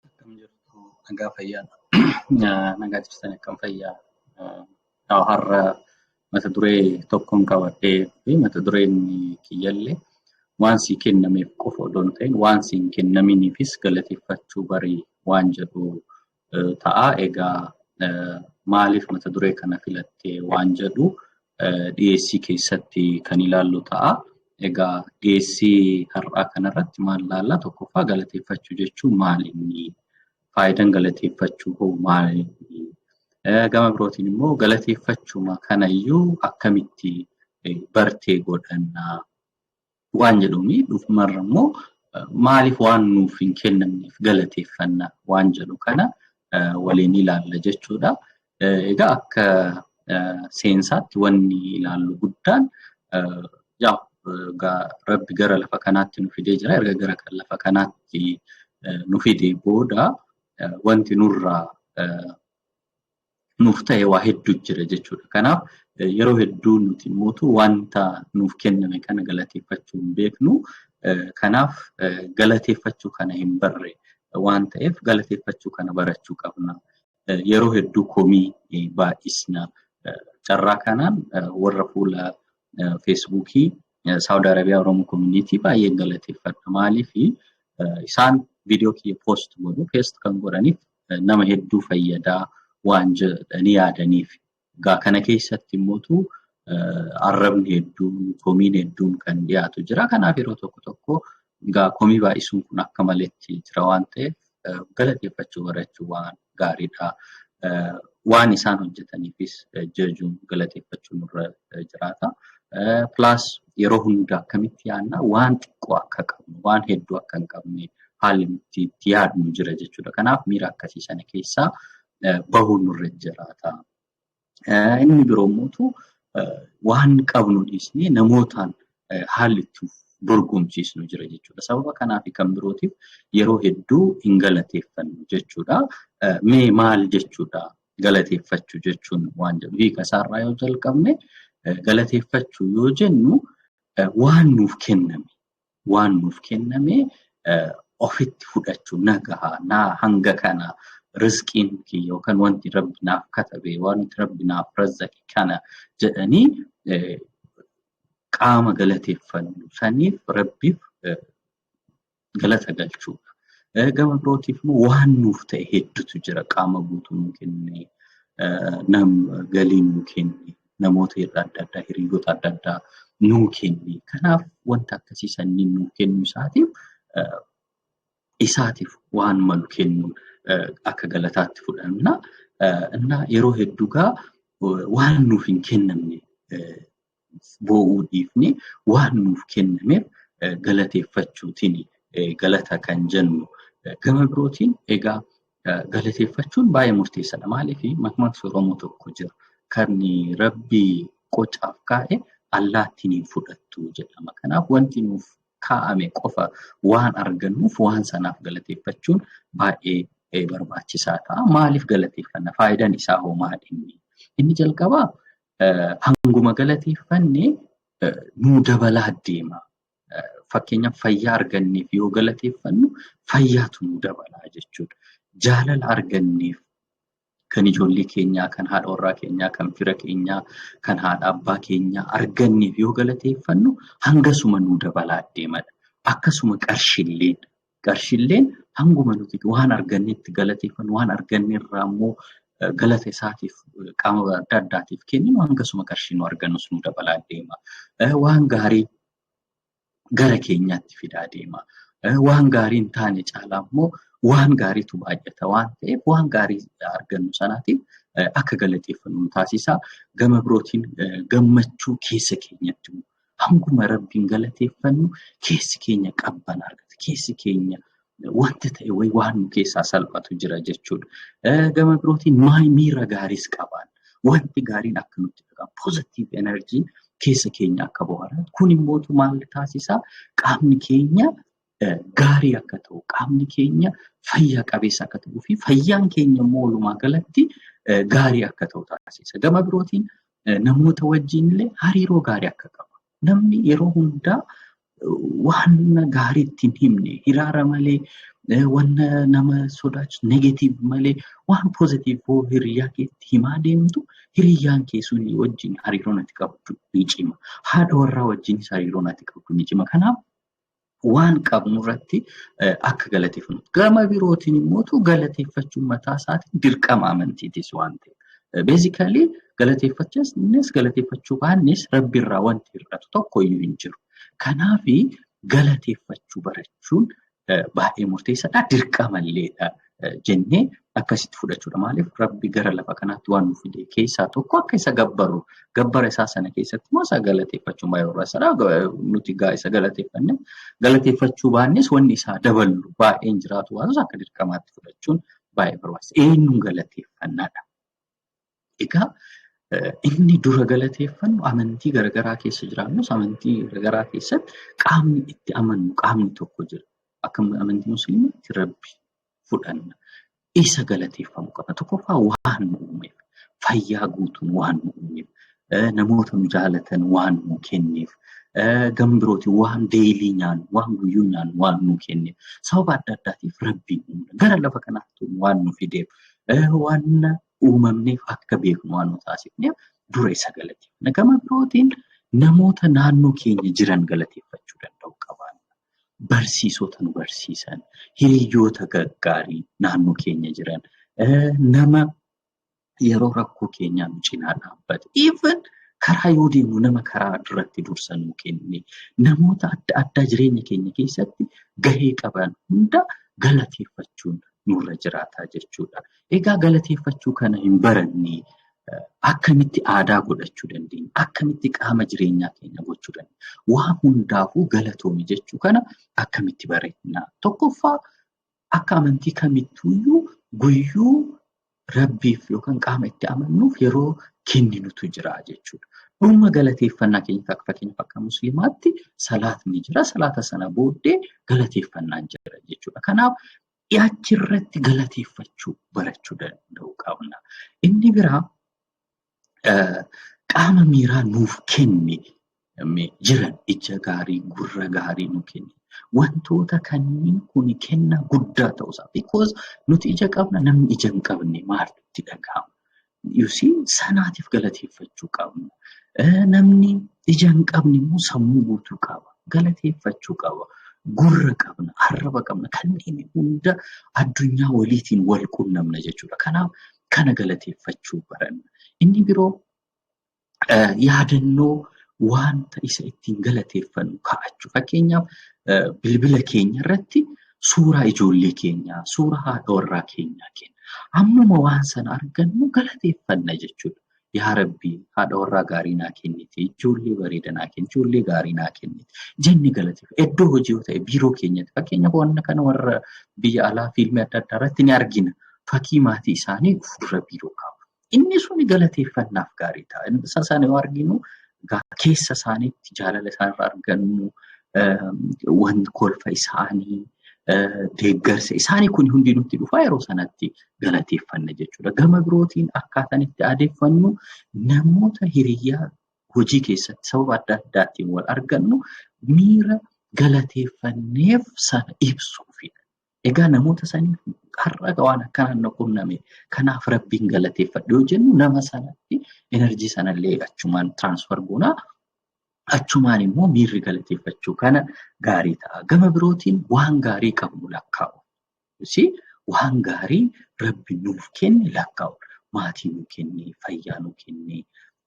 Akkam jirtu nagaa fayyaa nagaa jirtan akkam fayyaa Yaa har'a mata duree tokkoon qabadhee fi mata dureen kiyyallee waan sii kennameef qofa odoo hin ta'in waan sii hin kennaminiifis galateeffachuu barii waan jedhu ta'a. Egaa maaliif mata duree kana filatte waan jedhu dhiyeessii keessatti kan ilaallu ta'a. Egaa dhiyeessii har'aa kanarratti maal ilaalla? Tokkoffaa galateeffachuu jechuun maali inni? Faayidaan galateeffachuu hoo maali? Gama birootiin immoo galateeffachuma kanayyuu akkamitti bartee godhanna? waan jedhuuni dhufumarra immoo maaliif waan nuuf hin kennamneef galateeffanna waan jedhu kana waliin ilaalla jechuudha. Egaa akka seensaatti wanni ilaallu guddaan yaa rabbi gara lafa kanaatti nu fidee jira erga gara lafa kanaatti nu fidee booda wanti nurraa nuuf ta'e waa hedduu jira jechuudha. Kanaaf yeroo hedduu nuti mootu wanta nuuf kenname kana galateeffachuu hin beeknu. Kanaaf galateeffachuu kana hin barre waan ta'eef galateeffachuu kana barachuu qabna. Yeroo hedduu komii baay'isna. Carraa kanaan warra fuula feesbuukii Saawud Arabiyaa Oromoo Koominiitii baay'een galateeffadha. Maaliif isaan viidiyoo kiyya poost godhu. Poost kan godhaniif nama hedduu fayyadaa waan jedhanii yaadaniif. Egaa kana keessatti immoo arrabni hedduun, komiin hedduun kan dhiyaatu jira. Kanaaf yeroo tokko tokko egaa komii baay'isuun kun akka maletti jira waan ta'eef galateeffachuu barachuun waan gaariidha. Waan isaan hojjetaniifis jajuun galateeffachuun irra jiraata. Pilaas yeroo hunda akkamitti yaadna waan xiqqoo akka qabnu waan hedduu akka hin qabne haalli nuti itti yaadnu jira jechuudha. Kanaaf miira akkasii sana keessaa bahuun nurra jiraata. Inni biroo immoo waan qabnu dhiisnee namootaan haalli itti dorgomsiisnu jira jechuudha. Sababa kanaa fi kan birootiif yeroo hedduu hin galateeffannu jechuudha. Mee maal jechuudha? galateeffachuu jechuun waan jedhu hiika isaarraa yoo jalqabne galateeffachuu yoo jennu waan nuuf kenname waan nuuf kenname ofitti fudhachuu nagahaa naa hanga kana rizqiin yookaan wanti rabbi naaf katabe wanti rabbi naaf razzaqe kana jedhanii qaama galateeffannu saniif rabbiif galata galchuudha. Gama birootiif immoo waan nuuf ta'e hedduutu jira. Qaama guutuu nu kenne, nam galii nu kenne, namoota irra adda addaa, hiriyoota adda addaa nu kenne. Kanaaf wanta akkasii sanniin nu kennu isaatiif isaatiif waan malu kennu akka galataatti fudhanna. Innaa yeroo hedduu gaa waan nuuf hin kennamne boo'uu dhiifnee waan nuuf kennameef galateeffachuutiin galata kan jennu. Gama birootiin egaa galateeffachuun baay'ee murteessaadha. Maaliif makmaksi Oromoo tokko jira. Kan rabbii qocaaf kaa'e allaattiin hin fudhattu jedhama. Kanaaf wanti nuuf kaa'ame qofa waan argannuuf waan sanaaf galateeffachuun baay'ee barbaachisaa ta'a. Maaliif galateeffanna? Faayidaan isaa hoo maal inni? Inni jalqabaa hanguma galateeffanne nuu dabalaa deema. Fakkeenyaaf fayyaa arganneef yoo galateeffannu fayyaatu nuu dabalaa jechuudha. Jaalala arganneef kan ijoollee keenyaa, kan haadha warraa keenyaa, kan fira keenyaa, kan haadha abbaa keenyaa arganneef yoo galateeffannu hangasuma nuu dabalaa deemadha. Akkasuma qarshiilleen Qarshilleen hanguma nuti waan argannetti galateeffannu waan arganne irraa immoo galata isaatiif qaama adda addaatiif kenninu hangasuma qarshii nu argannus nu dabalaa deema. Waan gaarii gara keenyaatti fidaa deema. Waan gaarii hin taane caalaa immoo waan gaariitu baay'ata waan ta'eef waan gaarii argannu sanaatiif akka galateeffannu nu taasisa. Gama birootiin gammachuu keessa keenyatti Hanguma Rabbiin galateeffannu keessi keenya qabban argata. Keessi keenya wanti ta'e wayii waan nu keessaa salphatu jira jechuudha. Eh, Gama birootiin maay- miira gaariis qabaan. Wanti gaariin akka nutti dhaga'amu. Positive energy keessa keenya akka bohaaratu. Kun immoo maal taasisaa? Qaamni keenya gaarii akka ta'u qaamni keenya fayyaa qabeessa akka ta'uu fi fayyaan keenya immoo walumaa galatti gaarii akka ta'u taasisa. Gama birootiin namoota wajjin illee hariiroo gaarii akka qabu. Namni yeroo hundaa waan gaarii ittiin himne hiraara malee wanna nama sodaachisu negatiiv malee waan poozitiiv hoo hiriyaa keetti himaa deemtu hiriyyaan kee sun wajjin hariiroon ati qabdu ni cima. Haadha warraa wajjinis hariiroon ati qabdu ni cima. Kanaaf waan qabnu irratti akka galateeffannu. Gama birootiin immoo galateeffachuun mataa isaatiin dirqama amantiitis waan ta'eef. Beezikali galateeffachuunis galateeffachuu baannes rabbi irraa wanti hir'atu tokko iyyuu hin jiru. Kanaaf galateeffachuu barachuun baay'ee murteessaadha. Dirqama illeedha. jennee akkasitti fudhachuudha. Maaliif rabbi gara lafa kanaatti waan nuuf fide keessaa tokko akka isa gabbaru gabbara isaa sana keessatti immoo isa galateeffachuun baay'ee barbaachisaadha. Nuti gaa isa galateeffanne galateeffachuu baannes wanni isaa daballu baay'een jiraatu waan akka dirqamaatti fudhachuun baay'ee barbaachisa. Eenyuun galateeffannaadha? Egaa inni dura galateeffannu amantii garagaraa keessa jiraannus amantii garagaraa keessatti qaamni itti amannu qaamni tokko jira. Akka amantii musliimaatti rabbi fudhanna. Isa galateeffamu qabna. Tokkoffaa waan nu uumeef, fayyaa guutuun waan nu uumeef, namoota nu jaalatan waan nu kenneef, gam birootiin waan deeyilii nyaannu, waan guyyuu nyaannu waan nu kenneef, sababa adda addaatiif rabbiin uumna. Gara lafa kanaatti waan nu fideef Waan uumamneef akka beeknu waan nu taasifneef dura isa galateeffanna. Gama birootiin namoota naannoo keenya jiran galateeffachuu danda'u qabaanna. Barsiisota nu barsiisan, hiriyoota gaggaarii naannoo keenya jiran, nama yeroo rakkoo keenyaa nu cinaa dhaabbate. Even karaa yoo deemnu nama karaa irratti dursa nu kenne namoota adda addaa jireenya keenya keessatti gahee qaban hunda galateeffachuun nurra jiraataa jechuudha. Egaa galateeffachuu kana hin baranne akkamitti aadaa godhachuu dandeenya? Akkamitti qaama jireenyaa keenya gochuu dandeenya? Waa hundaafuu galatoomi jechuu kana akkamitti bareedna? Tokkoffaa akka amantii kamittuuyyuu guyyuu Rabbiif yookaan qaama itti amannuuf yeroo kenninutu jira jechuudha. Dhuma galateeffannaa keenya akka fakkeenyaaf akka musliimaatti salaatni jira. Salaata sana booddee galateeffannaan jira jechuudha. Kanaaf dhiyaachirratti galateeffachuu barachuu danda'uu qabna. Inni biraa qaama miiraa nuuf kenni jiran ija gaarii gurra gaarii nu kenni. Wantoota kanneen kun kenna guddaa ta'uu isaa. Because nuti ija qabna namni ija hin qabne maal itti dhaga'ama? You see sanaatiif galateeffachuu qabna. Namni ija hin qabne immoo sammuu guutuu qaba. Galateeffachuu qaba. Gurra qabna, arraba qabna. Kanneen hunda addunyaa waliitiin wal qunnamna jechuudha. Kanaaf kana galateeffachuu baranna. Inni biroo yaadannoo wanta isa ittiin galateeffannu kaa'achuu. Fakkeenyaaf bilbila keenya irratti suuraa ijoollee keenyaa, suuraa haadha warraa keenyaa kenna. Ammuma waan sana argannu galateeffanna jechuudha. yaa rabbii haadha warraa gaarii naa kennite ijoollee bareeda naa kennite ijoollee gaarii naa kennite jenne galateef iddoo hojii yoo ta'e biiroo keenyatti fakkeenya wanna kana warra biyya alaa fiilmii adda addaa irratti ni argina fakkii maatii isaanii fuuldura biiroo qabu inni sun galateeffannaaf gaarii ta'a inni isa sana yoo arginu keessa isaaniitti jaalala isaanirra argannu waan kolfa isaanii deeggarsa isaanii kun hundi nutti dhufa yeroo sanatti galateeffanna jechuudha. Gama birootiin akkaataan itti aadeffannu namoota hiriyaa hojii keessatti sababa adda addaatiin wal argannu miira galateeffanneef sana ibsuufidha. Egaa namoota saniif har'a waan akkanaan na qunname kanaaf rabbiin galateeffadhu yoo jennu nama sanatti enerjii sanallee achumaan tiraansfar goonaa achumaan immoo miirri galateeffachuu kana gaarii ta'a. Gama birootiin waan gaarii qabnu lakkaa'u. Kunis waan gaarii rabbi nuuf kenne lakkaa'udha. Maatii nuu kenne, fayyaa nuu kenne,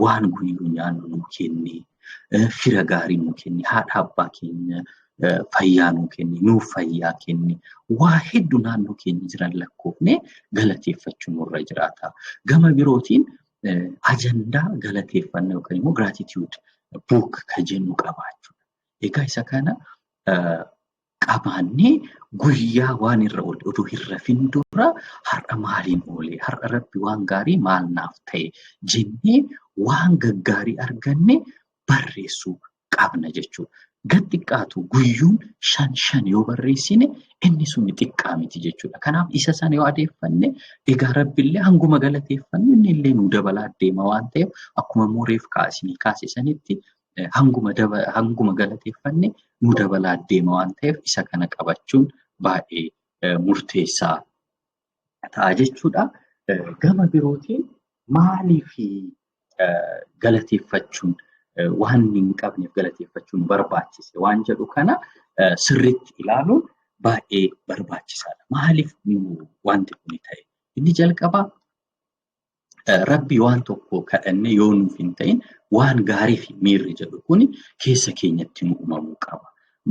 waan guyyu nyaannu nuu kenne, fira gaarii nuu kenne, haadha abbaa keenya fayyaa nuu kenne, nuuf fayyaa kenne, waa heddu naannoo keenya jiran lakkoofne galateeffachuu nurra jiraata. Gama birootiin ajandaa galateeffannaa yookaan immoo gratitude book kan jennu qabaachuudha. Egaa isa kana qabaannee guyyaa waan irra oole utuu hin rafin dura har'a maaliin oole har'a rabbi waan gaarii maal naaf ta'e jennee waan gaggaarii arganne barreessuu qabna jechuudha. Gad xiqqaatu guyyuun shan shan yoo barreessine inni sun xiqqaa miti jechuudha. Kanaaf isa sana yoo adeeffanne egaa rabbillee hanguma galateeffanne inni illee nu dabalaa deema waan ta'eef akkuma immoo reef kaasanii kaase sanitti hanguma galateeffanne nu dabalaa deema waan ta'eef isa kana qabachuun baay'ee murteessaa ta'a jechuudha. Gama birootiin maaliif galateeffachuun waan hin qabneef galateeffachuun barbaachise waan jedhu kana sirriitti ilaaluun baay'ee barbaachisaadha. Maaliif wanti kun ta'e? Inni jalqabaa rabbi waan tokko kadhannee yoo nuuf hin ta'in waan gaarii fi miirri jedhu kun keessa keenyatti nu uumamuu qaba.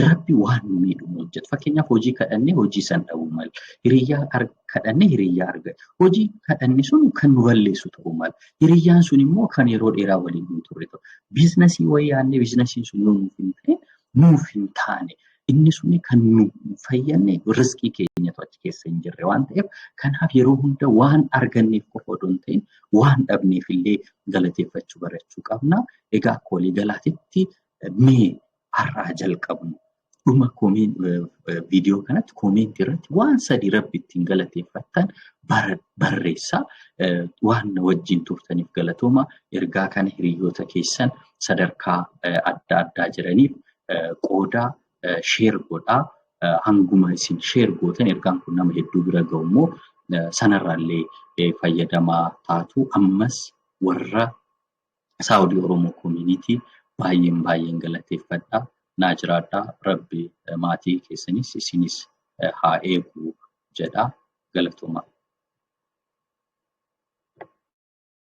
Rabbi waan nu miidhu nu hojjeta. Fakkeenyaaf hojii kadhannee hojii san dhabuu mala. Hiriyyaa kadhannee hiriyyaa argata. Hojii kadhanne sun kan nu balleessu ta'uu mala. Hiriyyaan sun immoo kan yeroo dheeraa waliin nu turre ta'u. Biiznasii wayii yaadnee biiznasiin sun yoo nuuf hin ta'in nuuf hin taane. Inni suni kan nu fayyadne riskii keenyatu achi keessa hin jirre waan ta'eef kanaaf yeroo hunda waan arganneef qofa odoo hin ta'in waan dhabneef illee galateeffachuu barachuu qabna. Egaa akka waliigalaatitti mee har'aa jalqabnu dhuma viidiyoo kanatti koomeentii irratti waan sadii rabbi ittiin galateeffattan barreessaa waan wajjin turtaniif galatooma ergaa kana hiriyoota keessan sadarkaa adda addaa jiraniif qooda sheer godhaa. Hanguma isin sheer gootan ergaan kun nama hedduu bira ga'u immoo sanarraallee fayyadamaa taatu. Ammas warra Saawudii Oromoo Koominiitii baay'een baay'een galateeffadha. Naa jiraadha. Rabbi maatii keessanis isinis haa eegu jedha. Galatoomaa.